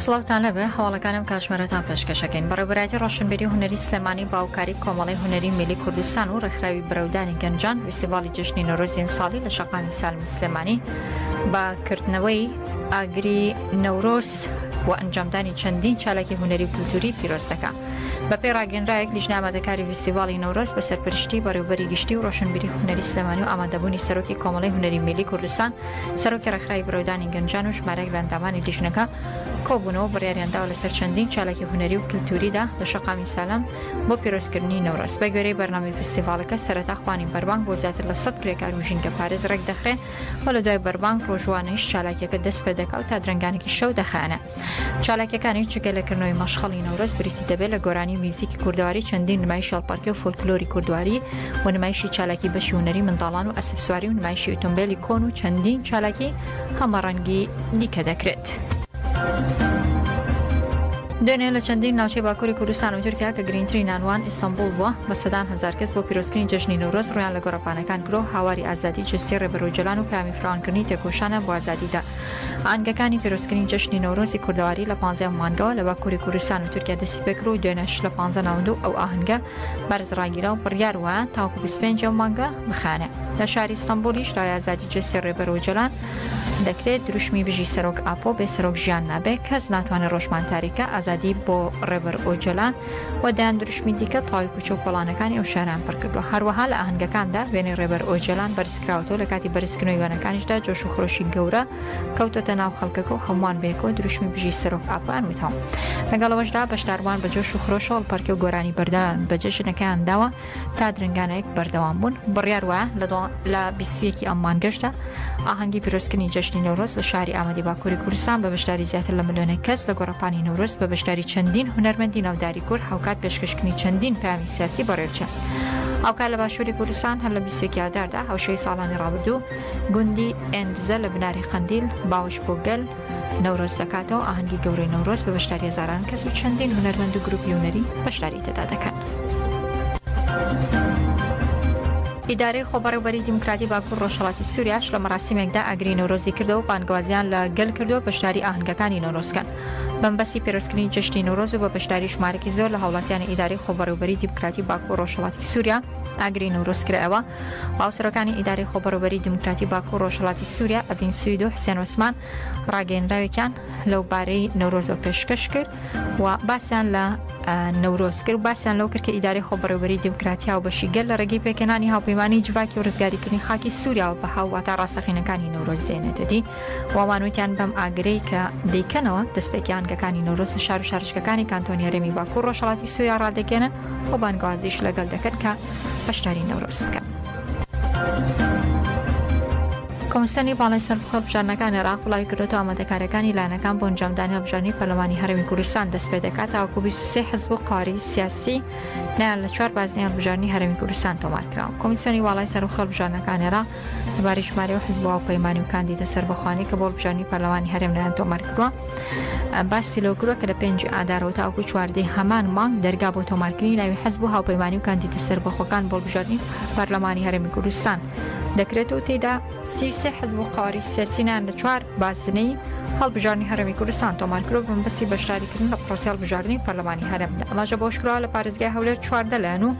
سڵاوتان لەبێ هەواڵەکان ئەم کاتژمێرەتان پێشکەشەکەین بەڕێوبەرایەتی ڕۆشنبیری و هونەری سلێمانی باوکاری کۆمەڵی هونەری میلی کوردستان و ڕێکخراوی برەودانی گەنجان ویسیڤاڵی جەژنی نەورۆزی ئەمساڵی لە شەقامی سالمی سلێمانی بە کردنەوەی ئاگری نەورۆز و ئەنجامدانی چەندین چالاکی هونەری و کولتوری پیرۆز دەکا بەپێی ڕاگەنرایەک لیژنە ئامادەکاری ویسیڤاڵی نەورۆز بە سەرپەرشتی بەڕێوبەری گشتی و ڕۆشنبیری هونەری سلێمانی و ئامادەبوونی سەرۆکی کۆمەڵی هونەری میلی کوردستان سەرۆکی ڕێکخراوی برەودانی گەنجان و ژمارەیەک لە ئەندامانی لیژنەکە کۆبوونەوە بڕیاریانداوە لەسەر چەندین چالاکی هونەری و کللتوریدا لە شەقامی سالم بۆ پیرۆزکردنی نەورۆز بە گوێرەی بەرنامی فستیڤالەکە سەرەتا خوانی بەربانگ بۆ زیاتر لە سەد کرێکار و ژینگە پارێز ڕێک دەخرێ و لە دوای بەربانگ ڕۆژوانەیش چالاکیەکە دەست پێ دەکا و تا درەنگانێکی شەو دەخایەنە چالاکیەکانیش جگە لە کردنەوەی مەشخەڵی نەورۆز بریتی دەبێت لە گۆرانی و میوزیکی کوردەواری چەندین نمایش شەڵپەرکێ و فۆلکلۆری کوردواری و نمایشی چالاکی بەشی هونەری منداڵان و ئەسپسواری و نمایشی ئۆتۆمبیلی کۆن و چەندین چالاکی هەمەڕەنگی دیکە دەکرێت. دوێنێ لە چەندین ناوچەی باکووری کوردستان و تورکیا کە گرنگتری نانوان ئیستانبول بووە بە سەدان هزار کەس بۆ پیرۆزکردنی جەژنی نەورۆز ڕویان لە گۆڕەپانەکان کرۆ هاواری ئازادی جستی ڕێبەرۆجلان و پامی فراوانکردنی تێکۆشانە بۆ ئازادیدا ئاهەنگەکانی پیرۆزکردنی جەژنی نەورۆزی کوردەواری لە پانزە ەم مانگەوە لە باکووری کوردستان و تورکیا دەستی پێ کرد و دوێنێش لە پانزە ناوەندو ئەو ئاهەنگە بەرز ڕاگیرا و بڕیار وایە تاوەکو بیست و پێنج ەم مانگە بخایەنێ لە شاری ستەنبوولیش لای ئازادی جەستەی ڕێبەر ئۆجەلان دەکرێت دروشمی بژی سەرۆک ئاپۆ بێ سەرۆک ژیان نابێ کەس ناتوانێ ڕۆژمان تاریکە ئازادی بۆ ڕێبەر ئۆجەلان و دەیان دروشمی دیکە تەواوی کوچە و کۆڵانەکانی ئەو شارەیان پڕ کردووە هەروەها لە ئاهەنگەکاندا وێنەی ڕێبەر ئۆجەلان بەرز کراوەتەوە لەکاتی بەرزکردنەوەی وێنەکانیشدا جۆش و خرۆشی گەورە کەوتۆتە ناو خەڵکەکە و هەمووان بەیەکەوە دروشمی بژی سەرۆک ئاپۆیان وتەوە لەگەڵەوەشدا بەشداربووان بە جۆش و خرۆشەوەڵ پەرکێ و گۆرانی بەردەوام بە جەژنەکەیان داوە تا درنگانەیەک بەردەوام بوون بڕیار وایە لە بیسویەکی ئەم مانگەشدا ئاهەنگی پیرۆزکردنی جەژنی نەورۆز لە شاری ئامەدی باکووری کوردستان بە بەشداری زیاتر لە ملیۆنێک کەس لە گۆڕەپانی نەورۆز بە بەشداری چەندین هونەرمەندی ناوداری کورد هاوکات پێشکەشکردنی چەندین پامی سیاسی بەڕێوچە. ئەوکار لە باشووری کوردستان هەر لە بیستێکی ئاداردا هەوشەی ساڵانی ڕابردوو گوندی ئەندزە لە بناری قندیل باوش بۆ گەل نەورۆز دەکاتەوە ئاهەنگی گەورەی نەورۆز بە بەشداری هزاران کەس و چەندین هونەرمەند و گروپی هونەری بەشداری تێدا دەکەن. ئیدارەی خۆبەڕێوبەری دیموکراتی باکوور ڕۆژهەڵاتی سووریاش لە مەراسیمێکدا ئاگری نەورۆزی کردەوە و بانگەوازیان لە گەل کردووە بەشداری ئاهەنگەکانی نەورۆزکەن. بەمەبەستی پێرۆزکردنی جەژنی نەورۆز و بە بەشداری ژمارەکی زۆر لە هاوڵاتیانی ئیدارەی خۆبەڕێوبەری دیموکراتی باکوو و ڕۆژهەڵاتی سووریا ئاگری نەورۆز کرایەوە و هاوسەرۆکانی ئیدارەی خۆبەڕێوبەری دیموکراتی باکوو و ڕۆژهەڵاتی سووریا ئەڤین سوید و حسێن عوسمان ڕاگەیێنراوێکیان لەو بارەی نەورۆزەوە پێشکەش کرد و باسیان لە نەورۆز کرد و باسیان لەو کرد کە ئیدارەی خۆبەڕێوبەری دیموکراتی هاوبەشی گەل لە ڕێگەی پێکهێنانی هاوپەیمانیی جڤاکی و ڕزگاریکردنی خاکی سووریاوە بەها و واتا ڕاستەقینەکانی نەورۆز دێنێتە دی. وامان وتیان بەم ئاگرەی کە دەیکەنەوە دەستپێکیان گەکانی نەورۆز لە شار و شارشکەکانی کانتۆنی هەرێمی باکوور ڕۆژهەڵاتی سووریا ڕادەگەێنن و بانگوازیش لەگەڵ دەکەن کە بەشداری نەورۆز بکەن. کۆمسیۆنی باڵای سەربخۆ هەڵبژاردنەکان عێراق بڵاوی کردوەوە ئامادەکاریەکانی لایەنەکان بۆ ئەنجامدانی هەڵبژاردنی پەرلەمانی هەرێمی کوردستان دەست پێ دەکات تاوەکو 23 حزب و قاری سیاسی نیان لە چوار بازنەی هەڵبژاردنی هەرێمی کوردستان تۆمارکراوە کۆمسیۆنی باڵای سەربخۆ هەڵبژاردنەکان عێراق لەبارەی ژمارەی و حزب و هاوپەیمانی و کاندیدە سەربەخوانی کە بۆ هەڵبژاردنی پەرلەمانی هەرێم لایان تۆمار کردووە باسی لەو کردووە کە لە پێنجی ئادارەوە تاوەکو چواردەی هەمان مانگ دەرگا بۆ تۆمارکردنی ناوی حزب و هاوپەیمانی و کاندیدە سەربەخۆکان بۆ هەڵبژاردنی پەرلەمانی هەرێمی کوردستان دەکرێت و تێدا سی سێ حزب و قواری سیاسینان لە چوار بازنەی هەڵبژاردنی هەرێمی کوردستان تۆمار کرۆ بمبەستی بەشداریکردن لە پرۆسی هەڵبژاردنی پەرلەمانی هەرێمدا ئەماژە بۆشکرا لە پارێزگای هەولێر چواردە لایەن و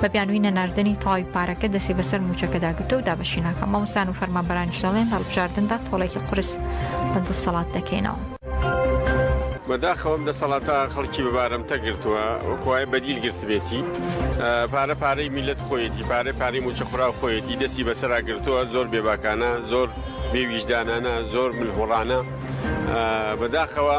بە بیانووی نەناردنی تەواوی پارەکە دەستی بەسەر موچەکەدا گرتە و دابەشی ناکە مامۆستان و فەرمانبەرانیش دەڵێن لە هەڵبژاردندا تۆڵێکی قورس بە دەسەڵات دەکەینەوە. بەداخەوەم دەسەڵاتە خەڵکی بەبارەمتە گرتووە وەکوای بەدیل گرتبێتی پارە پارەی میلەت خۆیەتی پارە پارەی موچە خورا خۆیەتی دەستی بەسرا گرتووە زۆر بێباکانە زۆر بێویژدانانە زۆر ملهوڕانە بەداخەوە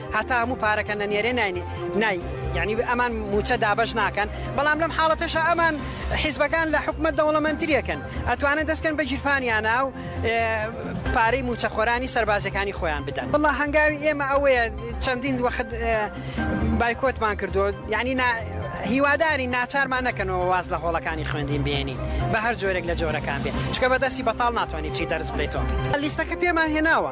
هەتا هەموو پارەکە نەنێرێ نای نای یعنی ئەمان موچە دابەش ناکەن بەڵام لەم حاڵەتەشە ئەمان حیزبەکان لە حکومت دەوڵەمەندترێکن ئەتوانن دەستکەن بە گیرفانیانە و پارەی موچەخۆرانی سەربازەکانی خۆیان بدەن بڵا هەنگاوی ئێمە ئەوەیە چەندین وەخت بایکۆتمان کردو یعنی هیواداری ناچارمان نەکەنەوە واز لە هۆڵەکانی خوێندین بێنین بە هەر جۆرێک لە جۆرەکان بێ چکە بەدەستی بەتاڵ ناتوانانی چی دەرز بڵێتەوە لیستەکە پێمان هێناوە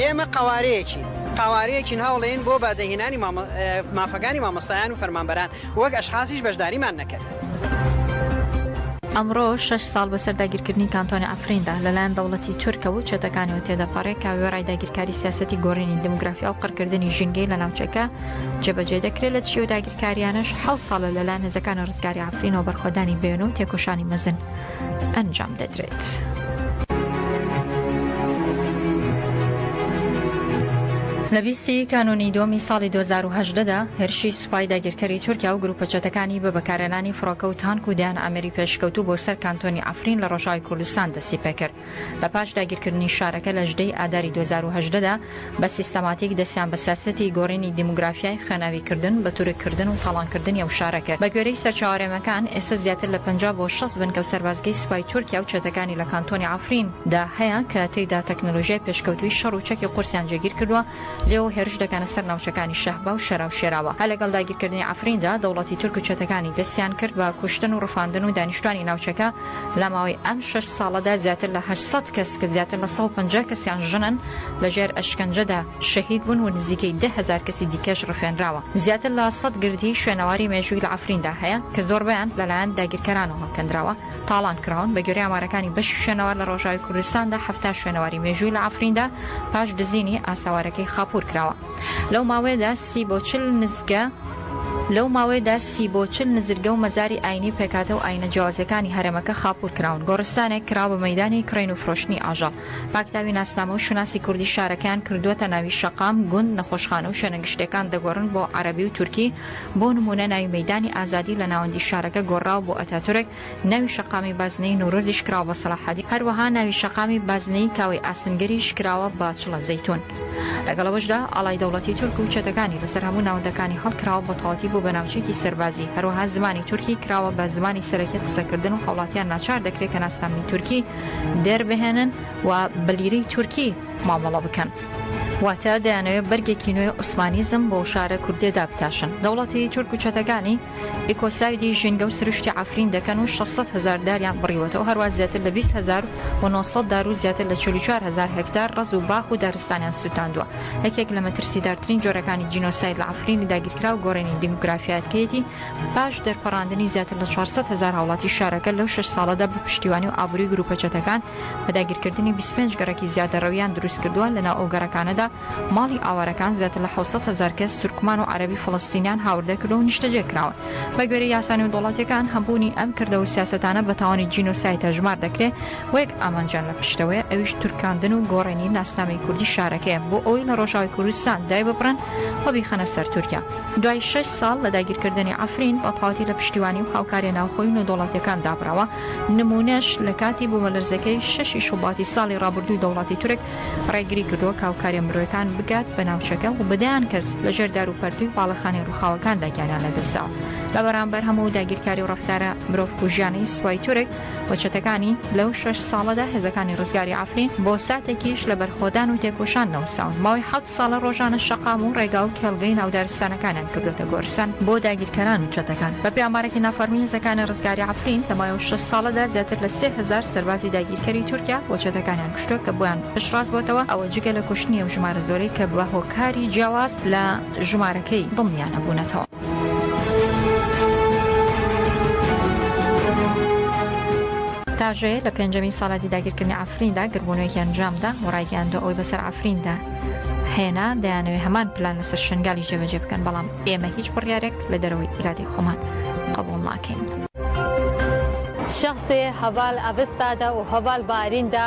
ئێمە قەوارەیەکین، قەوارەیەکین هەوڵێن بۆ بەدەهێنانی مافەکانی مامۆستایان و فەرمانبەران، وەک ئەشخاسیش بەشداریمان نەکرد. ئەمڕۆ شەش ساڵ بەسەر داگیرکردنی کانتۆنی عەفریندا لەلایەن دەوڵەتی تورکەوە و چەتەکانیەوە تێدەپەڕێ کە وێڕای داگیرکاری سیاسەتی گۆڕینی دموگرافیا و قڕکردنی ژینگەی لە ناوچەکە جێبەجێ دەکرێت لە دژی و داگیرکاریانەش حەوت ساڵە لەلایەن هێزەکانی ڕزگاری عەفرینەوە بەرخۆدانی بەیەنە و تێکۆشانی مەزن ئەنجام دەدرێت. لە بیست ی کانوونی دووەمی ساڵی دوو هەزار و هەژدە دا، هێرشی سوپای داگیرکەری تورکیا و گرووپە چەتەکانی بە بەکارهێنانی فڕۆکە و تانک و دەیان ئامێری پێشکەوتوو بۆ سەر کانتۆنی عەفرین لە ڕۆژاوای کوردستان دەستی پێ کرد. لە پاش داگیرکردنی شارەکە لە ژدەی ئاداری دوو هەزار و هەژدە دا بە سیستەماتیک دەستیان بە سیاسەتی گۆڕینی دیموگرافیای خوێناوی کردن بە تورک کردن و تاڵان کردنی ئەو شارە کرد بە گوێرەی سەرچاوەرێمەکان ئێستا زیاتر لە پەنجا بۆ شەست بنکە و سەربازگەی سوپای تورکیا و چەتەکانی لە کانتۆنی عەفرین دا هەیە کە تێیدا تەکنەلۆژیای پێشکەوتووی شەڕ و چەکی قورسیان جێگیر کردووە لێوە هێرش دەکەنە سەر ناوچەکانی شەهبا و شەرا و شێراوا هەر لەگەڵ داگیرکردنی عەفرین دا دەوڵەتی تورک و چەتەکانی دەستیان کرد بە کوشتن و ڕفاندن و دانیشتوانی ناوچەکە لە ماوەی ئەم شەش ساڵەدا زیاتر لە هەشت سەد کەس کە زیاتر لە سەد و پەنجا کەسیان ژنن لە ژێر ئەشکەنجەدا شەهید بوون و نزیکەی دە هەزار کەسی دیکەش ڕفێنراوە. زیاتر لە سەد گردی شوێنەواری مێژووی لە عەفریندا هەیە کە زۆربەیان لەلایەن داگیرکەرانەوە هەڵکەندراوە تاڵان کراون، بەگوێرەی ئامارەکانی بەشی شوێنەوار لە ڕۆژاوی کوردستاندا حەفتا شوێنەواری مێژووی لە عەفریندا پاش دزینی ئاساوارەکەی خاپوور کراوە لەو ماوەیەدا سی بۆ چل نزگە، لەو ماوەیەدا سی بۆ چل نزرگە و مەزاری ئاینی و پێکهاتە و ئاینە جیاوازەکانی هەرێمەکە خاپوور کراون، گۆڕستانێک کرا بە مەیدانی کڕین و فرۆشتنی ئاژەڵ. پاکتاوی ناسنامە و شوناسی کوردی شارەکەیان کردووەتە ناوی شەقام، گوند، نەخۆشخانە و شوێنە گشتییەکان دەگۆڕن بۆ عەرەبی و تورکی، بۆ نموونە ناوی مەیدانی ئازادی لە ناوەندی شارەکە گۆڕراوە بۆ ئەتاتورک، ناوی شەقامی بازنەیی نەورۆزیش کراوە بە سەلاحەدین، هەروەها ناوی شەقامی بازنەیی کاوەی ئاسنگەریش کراوە بە چڵە زەیتون. لەگەڵ ئەوەشدا ئاڵای دەوڵەتی تورک و چەتەکانی لەسەر هەموو ناوەندەکانی هەڵکراوە و بەتەواوەتی بووە بە ناوچەیەکی سەربازی، هەروەها زمانی تورکی کراوە بە زمانی سەرەکی قسەکردن و هاوڵاتیان ناچار دەکرێت کە ناسنامەی تورکی دەربهێنن و بە لیرەی تورکی مامەڵە بکەن. واتە دەیانەوێت بەرگێکی نوێی عوسمانیزم بۆ شارە کوردییەدا بتاشن. دەوڵەتی تورک و چەتەکانی. ئیکۆسایدی ژینگە و سروشتی عەفرین دەکەن و شەش سەد هەزار داریان بڕیوەتەوە، هەروەها زیاتر لە بیست هەزار و نۆ سەد دار و زیاتر لە چل و چوار هەزار هێکتار ڕەز و باخ و دارستانیان سووتاندووە. یەکێک لە مەترسیدارترین جۆرەکانی جینۆساید لە عەفرینی داگیرکراو گۆڕینی دیموگرافیایەتکەیەتی پاش دەرپەڕاندنی زیاتر لە چوار سەد هەزار هاوڵاتی شارەکە لەو شەش ساڵەدا بە پشتیوانی و ئابووری گرووپە چەتەکان بە داگیرکردنی بیست و پێنج گەڕەکی زیادەڕەوییان دروستکردووە لەناو ئەو گەڕەکانەدا ماڵی ئاوارەکان زیاتر لە حەوت سەد هەزار کەس تورکمان و عەرەبی فەڵەستینیان هاوردە کردووە و نیشتەجێ کراون. بە گوێرەی یاسا نێودەوڵەتییەکان هەبوونی ئەم کردەوە و سیاسەتانە بە تاوانی جینۆساید هەژمار دەکرێ و یەک ئامانجیان لە پشتەوەیە ئەویش تورکاندن و گۆڕینی ناسنامەی کوردی شارەکەیە بۆ ئەوەی لە ڕۆژاوای کوردستان دایببڕن و بیخەنە سەر تورکیا. دوای شەش ساڵ لە داگیرکردنی عەفرین بە تەواوەتی لە پشتیوانی و هاوکارییە ناوخۆی و نێودەوڵەتییەکان دابڕاوە، نموونەش لە کاتی بوومەلەرزەکەی شەشی شوباتی ساڵی ڕابردووی دەوڵەتی تورک، ڕێگری کردووە کە هاوکاریە مرۆیەکان بگات بە ناوچەکە و بەدەیان کەس لە ژێر دار و پەرتوی باڵەخانی ڕووخاوەکاندا گیانیان لەدەستدا لە بەرامبەر هەموو داگیرکاری و ڕفتارە مرۆڤ کوژیانەی سوپای تورک و چەتەکانی لەو شەش ساڵەدا هێزەکانی ڕزگاری عفرین بۆ ساتێکیش لە بەرخۆدان و تێکۆشان نەوساون ماوەی ساڵە ڕۆژانە شەقام و ڕێگا و کێڵگەی ناو دارستانەکانیان کردۆتە گۆرستان بۆ داگیرکەران و چەتەکان. بەپێی ئامارێکی نافەڕمی هێزەکانی ڕزگاری عەفرین، لە ماوەی شەش ساڵەدا زیاتر لە سێ هەزار سەربازی داگیرکەری تورکیا و چەتەکانیان کوشتوە کە بۆیان پشتڕاست بۆتەوە، ئەوە جگە لە کوشتنی ئەو ژمارە زۆرەی کە بە هۆکاری جیاواز لە ژمارەکەی دڵنیا نەبوونەتەوە. تاژەیە لە پێنجەمین ساڵاتی داگیرکردنی ئافریندا گربوونەوەیکی ئەنجامدا و ڕایگەیاندو ئەوەی بەسەر ئافریندا هێنا دەیانەوەی هەمان پلان لەسەر شنگالی جێبەجێ بکەن بەڵام ئێمە هیچ بڕیارێک لە دەرەوەی ئیرادەی خۆمان قبول ناکەین. شخص هبال اوستاد و هبال بارین دا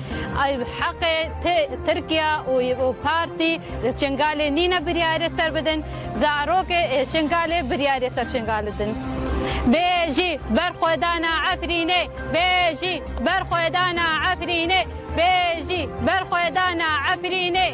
ئەی حەقێ ترکیا و پارتی شنگالێ نینە بریارێ سەر بدن، زارۆکێ شنگالێ بریارێ سەر شنگال دن. بێژی بەرخۆدانا عەفرینێ، بێژی بەرخۆدانا عەفرینێ، بێژی بەرخۆدانا عەفرینێ.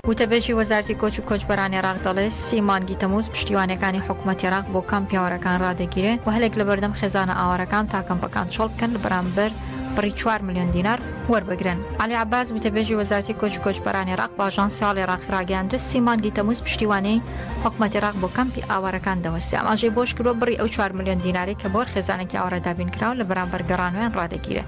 وتەبێژی وەزارەتی کۆچ و کۆچبەران ئێراق دەڵێ، سی مانگی تەمووز پشتیوانییەکانی حکومەت ئێراق بۆ کەم پیاوەرەکان رادەگیرێ و هەلێک لەبەردەم خێزانە ئاوارەکان تا کەمپەکان چۆڵ بکەن لەبەرامبەر بڕی چوار ملیۆن دینار وەربگرن. عەلی عەباس، گوتەبێژی وەزارەتی کۆچ و کۆچبەرانی عێراق بە ئاژانسی هەواڵی عێراقی ڕاگەیاند، سی مانگی تەمووز پشتیوانیی حکومەتی عێراق بۆ کەمپی ئاوارەکان دەوەستێ، ئاماژەی بەوەشکردووە، بڕی ئەو چوار ملیۆن دینارەی کە بۆ هەر خێزانێکی ئاوارە دابینکراون لە بەرامبەر گەڕانەوەیان ڕادەگیرێ.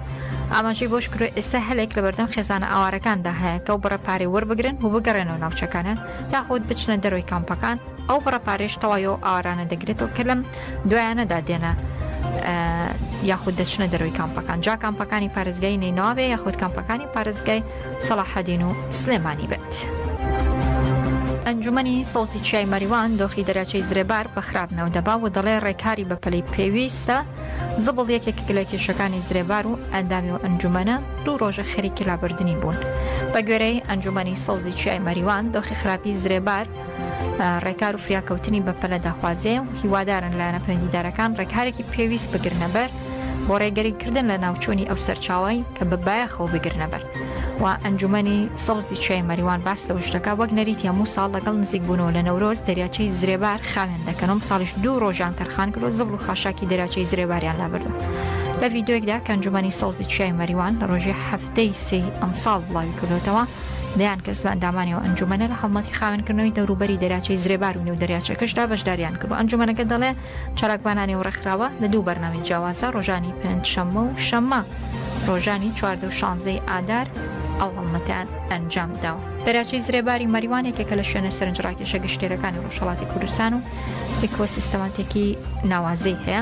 ئاماژەی بەوەشکردووە، ئێستا هەلێک لەبەردەم خێزانە ئاوارەکاندا هەیە کە ئەو بڕە پارەی وەربگرن و بگەڕێنەوە ناوچەکانیان یاخود بچنە دەرەوەی کامپەکان، ئەو بڕە پارەیەش تەوای ئەو ئاوارانە دەگرێتەوە کە لەم دوایانەدا دێنە یاخود دەچنە دەروی کامپەکان جا کامپەکانی پارێزگای نیناوێ یاخود کامپەکانی پارێزگای سەڵاحەدین و سلێمانی بێت. ئەنجومنی سەوتی چیای مەریوان دۆخی دەراچەی زرێبار بە خراپ ناودەبا و دەڵێ ڕێکاری بە پلەی پێویستە زبڵ یەکێک لە کێشەکانی زرێبار و ئەندامی و ئەنجومەنە دوو ڕۆژە خەریکی لابردننی بوون بە گوێرەی ئەنجومنی سەوزی چیای مەریوان دۆخی خراپی زرێبار ڕێکار و فریاکەوتنی بەپەلە دەخوازێ و هیوادارن لایەنە پەیوەندیدارەکان ڕێکارێکی پێویست بگرنەبەر بۆ ڕێگەری کردن لە ناوچوونی ئەو سەرچاوی کە بە بایەخەوە بگرنەبەر و ئەنجومەنی سەڵزی چای مەریوان باس لە وشتەکە وەک نەریت هەموو ساڵ لەگەڵ نزیک بوونەوە لە نەورۆز دەریاچەی زرێبار خاوێن دەکەنم ساڵیش دوو ڕۆژان تەرخان کرد و زبڵ و خاشاکی دەراچەی زرێباریان لابردو لە ڤیددیوێکدا کەنجومەنی سەڵزی چای مەریوان لە ڕۆژی هەفتەی سی ئەمساڵ بڵاوی کردوتەوە دەیان کەس لە ئەندامانی ئەو ئەنجومەنە لە هەڵمەتی خاوێنکردنەوەی دەوروبەری دەریاچەی زرێبار و نێو دەریاچەکەشدا بەشداریان کرد و ئەنجومەنەکە دەڵێ چالاکوانانی و ڕێکخراوە لە دوو بەرنامەی جیاوازە ڕۆژانی پێنج شەممە و شەممە ڕۆژانی چواردە و شانزەی ئادار ئەو هەڵمەتیان ئەنجام داوە دەراچەی زرێباری مەریوان یەکێکە لە شوێنە سەرنج ڕاکێشە گشتێرەکانی ڕۆژهڵاتی کوردستان و ئیکۆسیستەماتێکی ناوازەی هەیە